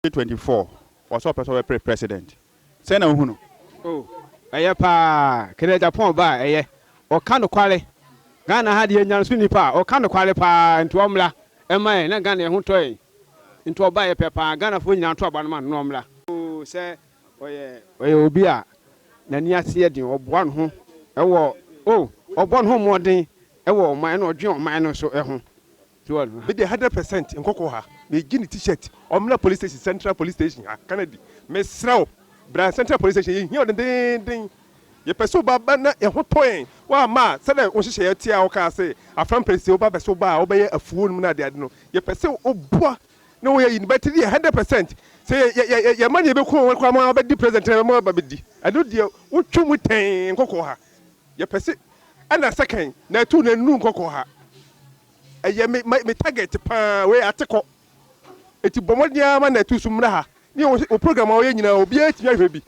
twenty twenty four ɔsɛ ɔpɛ sɛ ɔbɛpere president sɛn na wohunu. Oh ɛyɛ paa kena Japan ba a ɛyɛ ɔka nokware Ghana ha deɛ nyanso nni paa ɔka nokware paa nti ɔmmra ɛma yɛn na Ghana yɛn ho tɔ yɛn nti ɔba yɛ pɛ paa Ghana foɔ nyinaa to aba no ma no na ɔmmra oh sɛ ɔyɛ ɔyɛ obi a n'ani ase yɛ den ɔboa ne ho ɛwɔ oh ɔbɔ ne ho mmɔden ɛwɔ ɔman ɛna ɔdwen ɔman no nso ɛho Me deɛ hundred percent nkɔkɔ ha me gye ne t-shirt ɔmmra police station central police station ha kanadi me srɛ wo bra central police station yɛ hia wo dendennden yɛ pɛ sɛ wo ba ba na yɛ ho tɔ yɛn wo amma a sɛdɛ wo nhyehyɛ yɛ teɛ a wo kaa sɛ afra mpɛ sɛ wo ba bɛ sɛ wo ba a wo bɛ yɛ afuo nom na ade ade no yɛ pɛ sɛ wo boa na wo yɛ yi bɛ te deɛ hundred percent sɛ yɛ yɛ yɛ yɛ ma ne yɛ bɛ ko wɔn kora ma bɛ di president na bɛ ma bɛ di ɛno deɛ wo twa mu tɛɛn nkɔkɔ ha. Yɛpɛ sɛ ɛna second na ɛto na nnuru nkɔkɔɔ ha. Ɛyɛ me my me target paa wei atekɔ. Eti bɔ mmɔden ara ma na ɛto so mmra ha. Ne yɛ wo program a woyɛ nyinaa obiara tumi ahwɛ bi.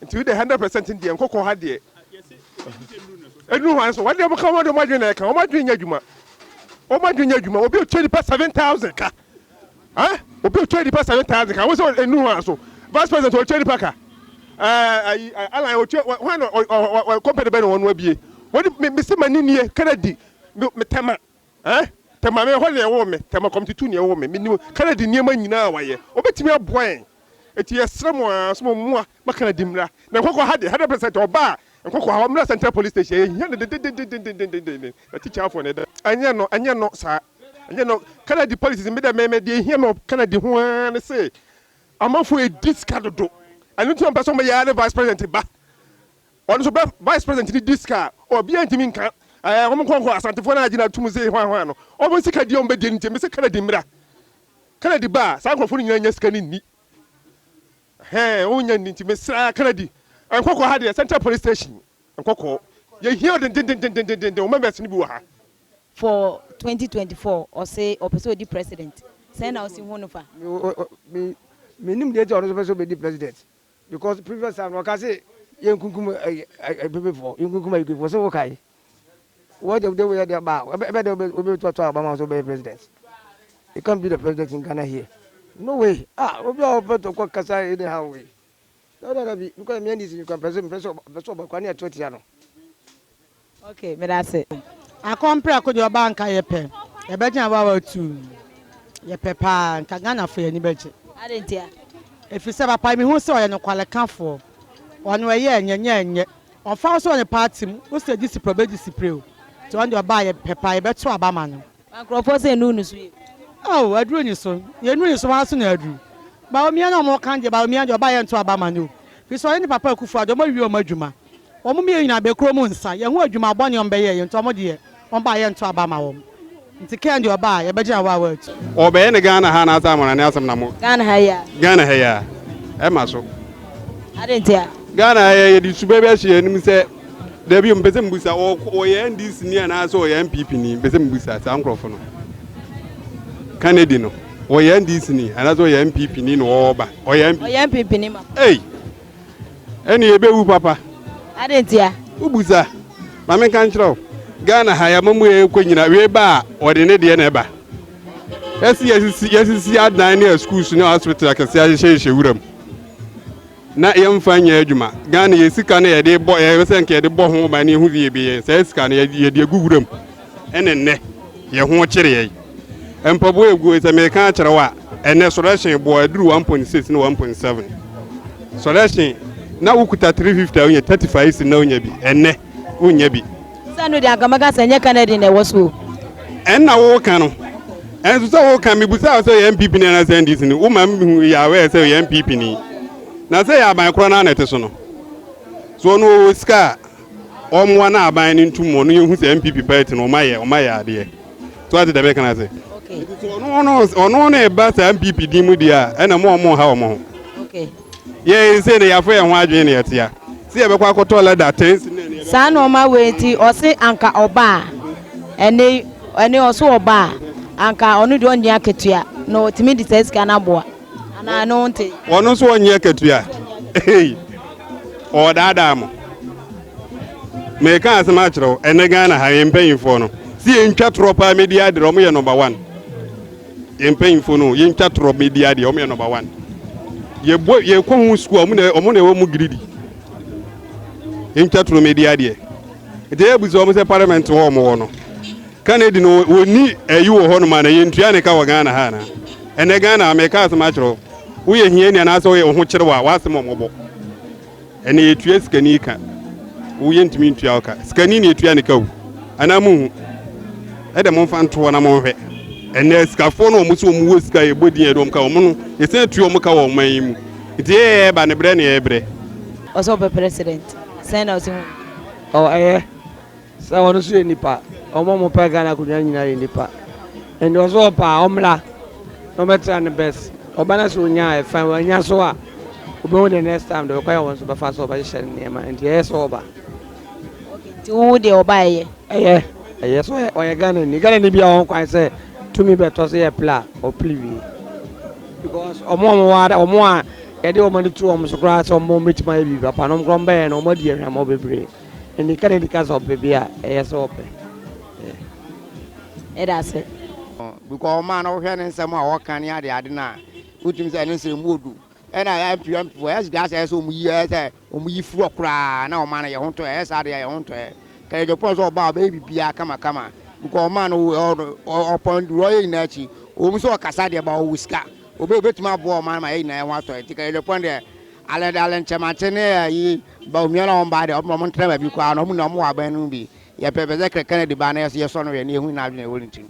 Nti wo deɛ hundred percent deɛ nkɔkɔɔ ha deɛ. Nnuru hwan so? Wɔde wɔn ka wɔn de wɔn adwene na ɛka wɔn adwene nyɛ adwuma. Wɔn adwene nyɛ adwuma obi otua nipa seven thousand ka. Eh obi otua nipa seven thousand ka wo sɛ enu hɔ aso vice president otua nipa ka eh ayi alan otua hwan na ɔ company bɛ na wɔn abie wɔn me me si ma ni nie kennedy me me tɛma eh tɛma me hɔ na ɛwɔ me tɛma kɔmiti tu na ɛwɔ me me ni kennedy nneɛma nyinaa wayɛ obetumi aboa yɛn eti yɛsrɛ mo aa so mo mmoa Makana di mmra na nkɔkɔ ha deɛ hundred percent ɔba a nkɔkɔ ha ɔmmra central police station yɛhia no dedededendendenden na tikyafoɔ na ɛda ɛnyɛ no ɛnyɛ no saa ɛnyɛ no kana di policies me dɛ mɛmɛ deɛ ɛhia me kana di ho ara ne se amanfoɔ ɛdi sika dodo ɛno nti ɔmpɛ sɛ ɔmɛyɛ ara ne vice president ba ɔno so bɛ vice president ne di sika a ɔbia ntumi nka ɛɛ wɔn nkɔnkɔ asantefoɔ no agyina atum se hwan hwan no wɔn sika deɛ wɔn bɛdi nti me se kana di mmra kana di ba a saa nkurɔfoɔ no nyinaa nya sika ne nni Hɛn ho hia ntsi mesera ka no adi. Nkɔkɔɔ ha deɛ central police station nkɔkɔɔ yɛhia wo dendendendendenden wo members no bi wɔ ha. For twenty twenty four ɔse ɔpɛ sɛ ɔdi president sɛn na wosi hu no fa. Me me nim deɛ nti a ɔno nso pɛ sɛ ɔbɛdi president because previous time no ɔka se yɛnkunkum ayi ayi ayi pepefoɔ yɛnkunkum ayikuifoɔ se wokae. What of them where they bow? Where where they will be to talk about so be president. You can't be the president in Ghana here. No way. Ah, obi a open to kwa kasa any how way. No no no bi because me and this you can person person person ba kwa ne ato tia no. Okay, me da se. Akɔmpra ko de ɔba nka yɛ pɛ. Yɛbɛgyina wa wa tu. Yɛ pɛ paa nka Ghana fo yɛ ni bɛgye. Ade ntia. Efisɛ papa mehu sɛ ɔyɛ nokwalekafoɔ. Ɔno ɛyɛ ɛnyɛ nyɛ ɛnyɛ. Ɔmfa wo sɛ ɔyɛ party mu, wo sɛ gye si prɛ ɔbɛgye si prɛ o, nti ɔno deɛ ɔba a yɛpɛ paa, yɛbɛto aba ama no. Na nkurɔfoɔ sɛ ɛnu no so yɛ bi. Oh aduru nyi so, yɛ nu nyi so hwan so na aduru? Bawumia na ɔmo ka no deɛ Bawumia deɛ ɔba a yɛnto aba ma no o, firi sɛ ɔne ne papa Akufoɔ Addo ɔmo awie ɔmo adwuma, ɔmo mmienu nyinaa bɛkura ɔmo nsa, yɛho adwuma bɔne a ɔmo bɛyɛɛyɛ nti ɔmo deɛ. Ɔmba a yɛnto aba ma wɔn. Nti Ken deɛ ɔba a yɛbɛgye awɔ a wɔatu. Ɔbɛyɛ no Ghana ha anaasɛ amanane asɛm na mo. Ghana ha yi a. Ghana ha yi a. Ɛma so. Adɛn nti a. Ghana ha yi a yɛde suba bi ahyɛ yɛn anim sɛ dabi o mepɛ sɛ mebusa ɔyɛ NDC ni anaasɛ ɔyɛ NPP ni mepɛ sɛ mebusa saa nkurɔfo no Kennedy no ɔyɛ NDC ni anaasɛ ɔyɛ NPP ni na ɔba ɔyɛ NPP ni ma. Ei. Ɛne yɛbɛwu papa. Adɛn ntia? Wobu sa. Ma menka nkyerɛ wo. Ghana ha yɛamamu ɛkɔ nyina wei ba a wɔde ne deɛ na ɛba. Ɛsi yɛsisi yɛsisi adan ne aschools ne hospital akɛseɛ ahyehyɛhyɛ wuram. Na yɛmfa nyɛ adwuma. Ghana yɛ sika no yɛde bɔ yɛbɛ sɛ nka yɛde bɔ ho ban ne yɛhu sɛ yɛbɛyɛ saa sika no yɛde agu wuram. ne nnɛ yɛ ho kyereɛ. Mpaboa ɛgu hɔ yi sɛ meka akyerɛ wo a, ɛnɛ sɔrɛhyen boɔ ɛduru 1.6 ne 1.7. Sɔrɛhyen na wokuta 350 a wonya 35 cedi na wonya bi, ɛnɛ wonnya bi. Sɛ no deɛ anka mɛka sɛ ɛnyɛ Canadian na ɛwɔ so o. Ɛnna woka no, ɛnso sɛ woka mebusaa wo sɛ ɔyɛ NPP ni anaasɛ NDC ni, woma mehu yɛ aware sɛ ɔyɛ NPP ni. Na sɛ ɛyɛ aban korɔ no a na ɛte so no, so ɔno ɔwɔ sika a, Ɔmmoa na aban no ntu mmɔ no yɛhu sɛ NPP party no ɔmayɛ ɔmayɛ adeɛ so ate dɛm ɛka no ase nti sɛ ɔno no ɔno no ɛba saa NPP din mu deɛ a ɛna mo ɔmo ha ɔmo ho yɛn se no yɛafɔ yɛn ho adwene na yɛtea sɛ yɛbɛkɔ akɔtɔ lɛda tens saa nneɛma wei nti ɔse anka ɔba a ɛne ɛne ɔso ɔba a anka ɔno deɛ ɔnyɛ akatua na ɔtumi de saa sika no aboa anaa ne wo nte. Wɔn nso wɔnyɛ akatua. Ei, wɔdaadaa mo. Meka asɛm akyerɛ wo, ɛnɛ Ghana ha yɛn mpanyinfoɔ no, si yɛn ntwa torɔ paa medi adeɛ, wɔn yɛ nɔmba wan. Yɛn mpanyinfoɔ no, yɛn ntwa torɔ medi adeɛ, wɔn yɛ nɔmba wan. Yɛbɔ yɛkɔ ho sukuu a, wɔn na wɔn na ɛwɔ mu giridi. Yɛn ntwa torɔ medi adeɛ. Nti yɛ busa wɔn sɛ parliament hɔ wɔn wɔ no. Kennedy no wɔni ɛyi wɔ hɔ nom a na yɛn ntua ne ka wɔ Ghana ha anaa. Ɛnɛ Ghana, meka asɛm akyerɛ wo, woyɛ hiani anaasɛ woyɛ wo ho kyerɛ wo a, w'asɛm wɔ mmɔbɔ. Ɛnɛ yɛtua sikani ka, wo yɛntumi ntua wo ka. Sikani na yɛtua ne ka o, anaa monhu? Ɛdɛ momfa ntoɔ na monhwɛ. Ɛnɛ asikafoɔ no wɔn so wɔn wɔ sika yɛbɔ din yɛde wɔn ka wɔn no, yɛsan tua wɔn ka wɔ ɔman yi mu. Nti yɛyɛ yɛba ne brɛ ne yɛbrɛ. Ɔsɛ ɔpɛ president sɛn na ɔsɛ hu no. Ɔyɛ. Sɛ ɔno nso yɛ nipa. Wɔn a wɔpɛ Ghana akonnwa nyinaa yɛ nipa. Nti ɔsɛ ɔpɛ a, ɔmmra na ɔmmɛtra ne best. Ɔba na sɛ ɔnya a, fine. Wannya nso a, ɔbɛhu deɛ next time deɛ ɔkwan a wɔn nso bɛfa so a wɔbɛhyehyɛ no nneɛma. Nti ɛyɛ sɛ ɔba. Okay, nti wo wo deɛ ɔba ɛyɛ? Ɛyɛ. Ɛyɛ sɛ ɔyɛ ɔyɛ Ghanani. Ghanani biara wɔ ho kwan sɛ tumi bɛtɔ sɛ yɛpere a, ɔpere wie. Because wɔn a wɔwɔ ha, wɔn a yɛde wɔn ani to wɔn so koraa sɛ wɔbɛtumi ayɛ biribi papa no, wɔn koraa wɔbɛyɛ no, wɔadi ahwammɔ bebree. Anika na di ka sɛ ɔpɛ bi a ɛyɛ sɛ ɔpɛ yɛ da ase. Because ɔmaa no wohwɛ ne nsɛm a ɔka ne ade ade no a wotumi sɛ ne nsɛm mu odu ɛna MP MP for ɛs gas ɛsɛ ɔmo yi ɛsɛ ɔmo yi firi ɔkoraa na ɔmaa no yɛ ho ntɔ ɛyɛ saa deɛ yɛ ho ntɔ ɛ kɛyɛ jɔpɔn sɛ ɔbaa ɔbɛyɛ bibiaa kama kama because ɔmaa no ɔpɔn duru ɔyɛ nyinaa akyi ɔmo sɛ ɔkasa deɛ ba ɔwɔ sika ɔbɛ ɔbɛtumi aboa ɔmaa no ma yɛ nyinaa yɛ ho atɔ ɛ nti kɛyɛ jɔpɔn deɛ alɛ alɛ nkyɛmankyɛ ne ɛyi Ba onua na ɔmba de, ɔbɛma wɔntra baabi koraa na wɔn na wɔwɔ aban no mu bi. Yɛpɛ pɛ sɛ Kennedy ba na yɛsɔ no hwɛ na yɛhu n'adwene a ɛwɔ ne tirim.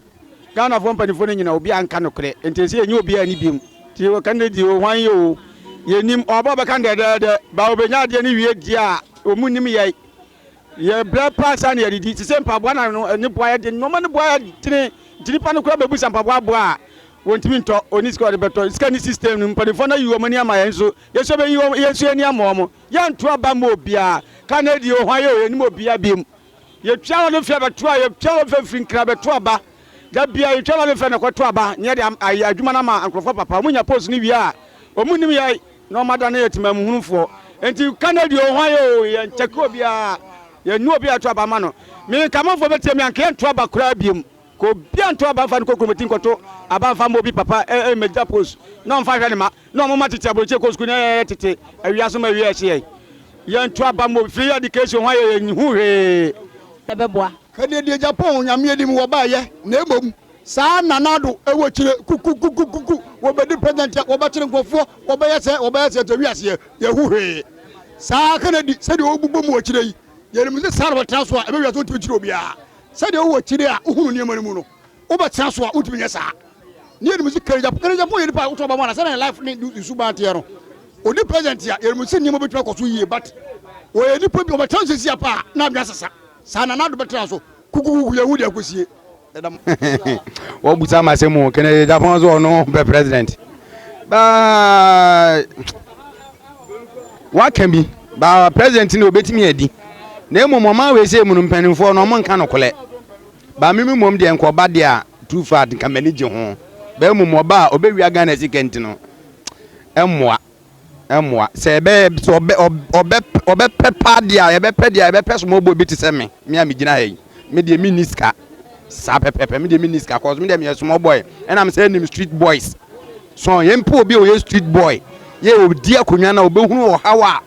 Ghanafoɔ mpaninfoɔ no nyina obiara nka nokorɛ nti ɛsɛ yɛnyi obiara nni biom nti wɔ Kennedy o hwan yɛ o yɛnnim wɔn aba ɔbɛka no dɛdɛɛdɛ ba ɔbɛnya adeɛ no wie deɛ a wɔn nnim yɛn yɛ brɛ paa saa na yɛdedi te sɛ mpaboa na no ne boa yɛde nnoɔma no boa yɛdene nti nipa no koraa bɛbusa mpaboa aboa a wɔntumi ntɔ ɔni sika ɔde bɛtɔ sika ni system no mpaninfoɔ no ayi wɔn ani ama yɛn nso Yɛsɛ bɛyi wɔn, yɛnso yɛni ama wɔn. Yɛnto aba mma obiara, ka na edi yɛn ho ayɛ o, yɛnim obiara biom. Yɛtwa wɔn mfe abɛto a, yɛtwa wɔn mfe afiri nkran abɛto aba. Da biara yɛtwa wɔn mfe na ɛkɔto aba, na yɛde am, ayɛ adwuma no ama nkurɔfoɔ papa. Wɔnya post no wie a, wɔnnim yɛn, na wɔadane yɛn temamuhunufoɔ. Enti ka na edi yɛn ho ayɛ o, yɛnkyɛke obiara, yɛnni obiara yɛto aba ma no. Me Nkamanfoɔ bɛtie me a, anka yɛnto aba koraa biom. Ka obiara nto aba mfa no nkɔ kurom ati nkɔto aba mfa mma obi papa mmegya post na ɔmfa nhwɛ ne mma na ɔmo mma tete aburokyire kɔ sukuu na yɛyɛ tete awia so ma awia ɛhye yɛn yɛnto aba mma obi free education ho a yɛyɛ nhu hwee ɛbɛboa. Ka deɛ deɛ Japan onyame anim wɔbaeɛ na mmom saa Nana Addo wɔ akyire kukukukukuku wɔbɛdi president a wɔbɛkyere nkorɔfoɔ wɔbɛyɛ sɛɛ wɔbɛyɛ sɛɛ nti wiaseɛ yɛnhu hwee saa Kennedy sɛdeɛ ɔrebobom wɔ akyire yi yɛnim sɛ saa na wɔtena so a ɛbɛ wiase ɔntumi nkyere obiara Sɛdeɛ wowɔ akyire a wohunu nneɛma no mu no, wobɛtena so a wontumi nyɛ saa. Ne yɛnim sɛ Kerry Japan, Kerry Japan yɛ nipa a woto aba ma no sɛdeɛ ne life ne ne suban teɛ no. Ɔdi present a, yɛnim sɛ nneɛma bɛtumi akɔ so yie but wɔyɛ nipa bi ɔbɛtena so sɛsi a paa na adwene asesa. Saa na Nado bɛtena so kukukuku yɛhu deɛ akɔsie. Wabusa masɛm o, Kennedy Japan so ɔno pɛ president but. Waka bi, ba president no obetumi adi. Na mmom ɔman wei sɛ mu no mpanimfoɔ no ɔmo nka nokorɛ. Ba mimi mmom deɛ nka ɔba deɛ a too far nka m'ani gye ho. Ba mmom ɔba a ɔbɛwia Ghana sika nti no ɛmmoa. Ɛmmoa. Sɛ ɛbɛ sɛ ɔbɛ ɔbɛ ɔbɛpɛ paa deɛ a yɛbɛpɛ deɛ a yɛbɛpɛ somoɔbɔ bi te sɛ me, me a megyina ha yi. me deɛ me nni sika saa pɛpɛpɛ me deɛ me nni sika cause me deɛ me yɛ small boy ɛna me sɛ ɛnim street boys so yɛn mpo obi a ɔyɛ street boy yɛ ɔdi akonnwa na ɔbɛhunu ɔhaw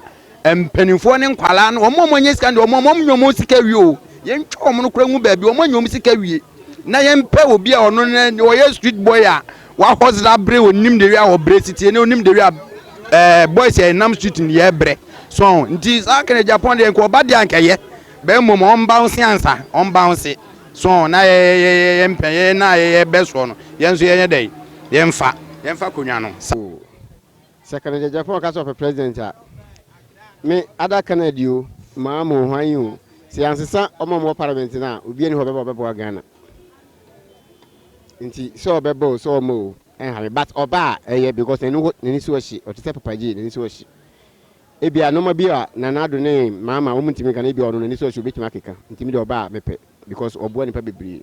a mpanimfoɔ ne nkwalaa no wɔn a wɔnyɛ sika no deɛ wɔn wɔn nyɛ wɔn sika wie o yɛn twɛ wɔn no kora ngu baabi wɔn nyɛ wɔn sika wie na yɛn pɛ obi a ɔno ne ɔyɛ street boy a wahɔs da bere onim de wie a ɔbrɛ sitie ne onim de wie a ɛɛ boys yɛ nam street ne yɛ brɛ so nti saa kɛnɛ japan deɛ nka ɔba deɛ ankɛyɛ. Bɛ mmom ɔmbaonse ansa, ɔmbaonse. So na yɛyɛ yɛn pɛ, yɛn na yɛyɛ bɛ soɔ no, yɛn nso yɛnyɛ dɛn? Yɛmfa, yɛmfa akonnwa no sa. Oh, sɛ kane Gyagyapaw ka sɛ ɔpɛ President a, me, Ada Canady o, Maa Moh Huayin o, sɛ yɛansesa wɔn a wɔwɔ Parliament no a, obiara nni hɔ a ɔbɛba a ɔbɛboa Ghana. Nti sɛ ɔbɛba o, sɛ ɔmma o, ɛnha me. But ɔba a, ɛyɛ because n'ani wɔ, n'ani so ɔhye. Ɔte sɛ Papa Jay, n'ani so ɔhye. Ebia nnoɔma bi a Nana Addo ne Mama wɔntumi nka no, ebia ɔno n'ani sɔɔ sɛ obetumi akeka, ntimi deɛ ɔbaa a mepɛ because ɔboa nnipa bebree.